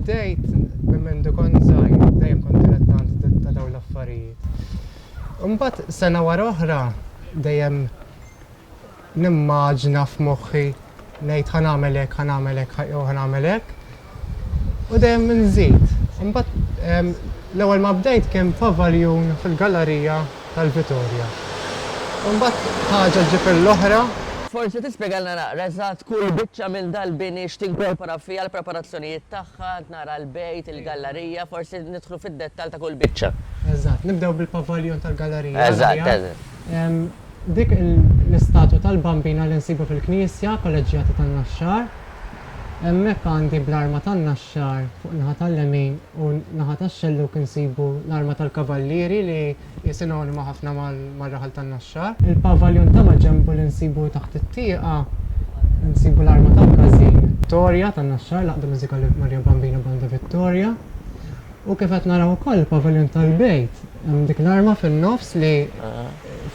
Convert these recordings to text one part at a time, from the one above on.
Bdejt minn mendu kont żgħir, dejjem kont dilettant ta' dawn l-affarijiet. Imbagħad sena wara oħra dejjem nimmaġna f'moħħi ngħid ħa nagħmel hekk, ħa nagħmel hekk, jew ħa nagħmel hekk. U dejjem inżid. Imbagħad l-ewwel ma bdejt kien f'Avaljun fil-gallerija tal-Vitorja. Imbagħad ħaġa ġġib il-oħra. Forsi tispjegalna naqra eżatt kull biċċa minn dal-bini x'tinkorpora fiha, l-preparazzjonijiet tagħha, qed nara l-bejt, il-gallarija, forsi nidħlu fid-dettall ta' kull biċċa. Eżatt, nibdew bil-pavaljon tal-gallarija. Eżatt, eżatt. Dik l-istatwa tal-Bambina li nsibu fil-Knisja Kolleġġjata tan-Naxxar. Hemmhekk għandi bl-arma tan-Naxxar fuq in-naħa tal-lemin u n-naħa tax-xellug insibu l-arma tal-kavallieri li hi sinonima ħafna mar-raħal tan-Naxxar. Il-pavaljon ta' maġenbu li nsibu taħt it-tieqa nsibu l-arma tal-każin. Torja tan-Naxxar, l-Għaqda Mużikali Marija Bambina Banda Vittoria. U kif qed naraw ukoll il-pavaljon tal-bejt hemm dik l-arma fin-nofs li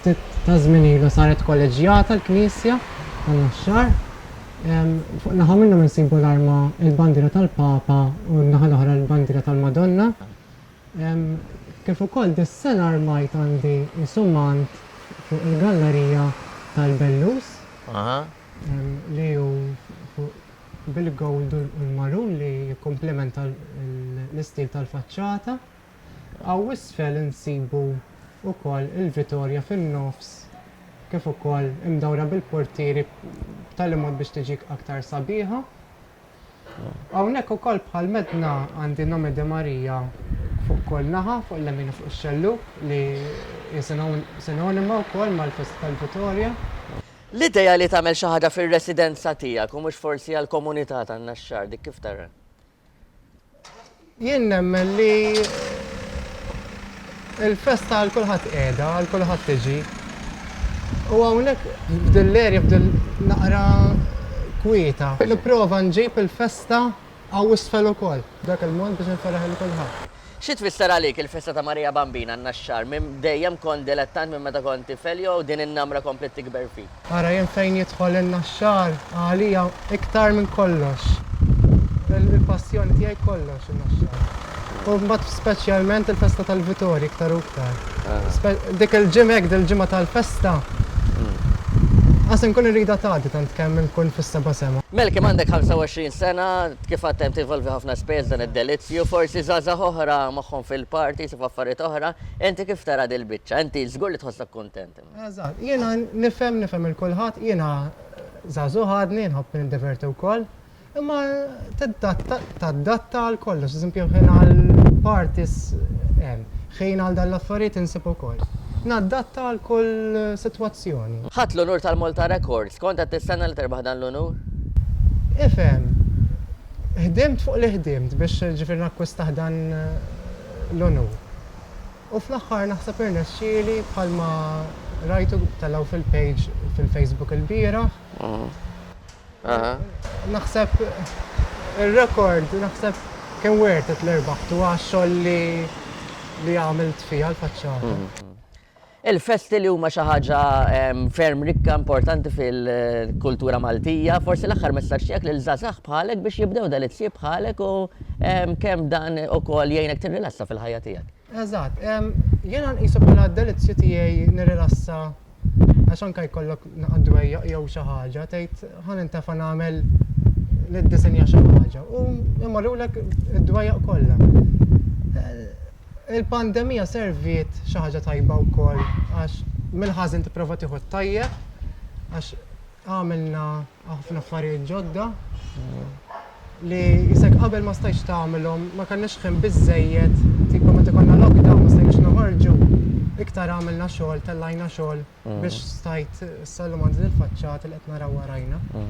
ftit taż-żmien ilu saret kolleġġjata l-knisja tan-Naxxar. Fuq naħa minnhom insibu l-arma, il-bandiera tal-Papa u n-naħa l-oħra l-bandiera tal-Madonna. Kif ukoll dis-sena armajt għandi isumant fuq il-gallerija tal-Bellus li hu bil-gold u l-marun li jikkumplementa l-istil tal-faċċata. Hawn isfel insibu wkoll il-Vitorja fin-nofs kif ukoll imdawra bil-portieri b'tali mod biex tiġi aktar sabiħa. Hawnhekk ukoll bħal medna għandi Nome de Maria fuq kull naħa, fuq l-lemin u fuq ix-xellug li hi sinonima wkoll mal-festa tal-Vitorja. L-idea li tagħmel xi ħaġa fir-residenza tiegħek u mhux forsi għall-komunità tan-Naxxar, dik kif tara? Jien nemmen li il-festa għal kulħadd qiegħda, għal kulħadd tiġi. U hawnhekk f'din l-erja f'din naqra kwieta, nipprova nġib il-festa għaw isfel ukoll, dak il-mod biex nifferraħ il kulħadd. Xi tfisser għalik il-festa ta' Marija Bambina n-Naxxar? Minn dejjem kont dilettant minn meta kont tifel jew din in-namra kompliet tikber fik? Ara jien fejn jidħol in-Naxxar għalija iktar minn kollox. Il-passjoni tiegħi kollox in-Naxxar. U mbagħad speċjalment il-festa tal-Vitorji iktar u iktar. Dik il-ġimgħa hekk dil-ġimgħa tal-festa qas inkun irridha tgħaddi tant kemm inkun fis-seba' sema. Melki m'għandek 25 sena Kif għadt hemm tinvolvi ħafna spejjeż f'dan id-delizzju, forsi żgħażagħ oħra moħħhom fil-party, jsibu affarijiet oħra. Inti kif tara dil-biċċa? Inti żgur li tħossok kuntent. Eżatt. Jiena nifhem, nifhem lil kulħadd. Jiena żagħżugħ għadni, nħobb nindiverti wkoll. Imma tiddatta, tadatta għal kollox. Eżempju, ħin għall-parties hemm. Ħin għal dan l-affarijiet insib ukoll. Nadatta għal kull sitwazzjoni. Ħadt l-unur tal-Malta Records. Kont qed tistenna li terbaħ dan l-unur? Ifhem. Ħdimt fuq li ħdimt biex ġifieri nakkwistaħ dan l-unur. U fl-aħħar naħseb irnexxieli bħalma rajtu telgħu fil-page fil-Facebook ilbieraħ. Naħseb ir-rekord, naħseb kien worth it li rbaħtu għax-xogħol li għamilt fiha l-faċċata. Il-festi li huma xi ħaġa ferm rikka, importanti fil-kultura Maltija, forsi l-aħħar messaġġ tiegħek lil żgħażagħ bħalek biex jibdew delizzji bħalek u kemm dan ukoll jgħinek tirrilassa fil-ħajja tiegħek? Eżatt. Jiena nqisu bħala d-delizzju tiegħi nirrilassa għax anke jkollok naqa' dwejjaq jew xi ħaġa tgħid ħa nintefa' nagħmel niddisinja xi ħaġa u jmorrulek id-dwejjaq kollha. Il-pandemija serviet xi ħaġa tajba wkoll għax mill-ħażin tipprova tieħu t-tajjeb għax għamilna Ħafna affarijiet ġodda li isek qabel ma stajtx tagħmilhom, ma kellniex ħin biżżejjed, tipo meta konna lockdown ma stajniex noħorġu, iktar għamilna xogħol, tellajna xogħol biex stajt, sal-lum għandi dil-faċċata li qed naraw warajna.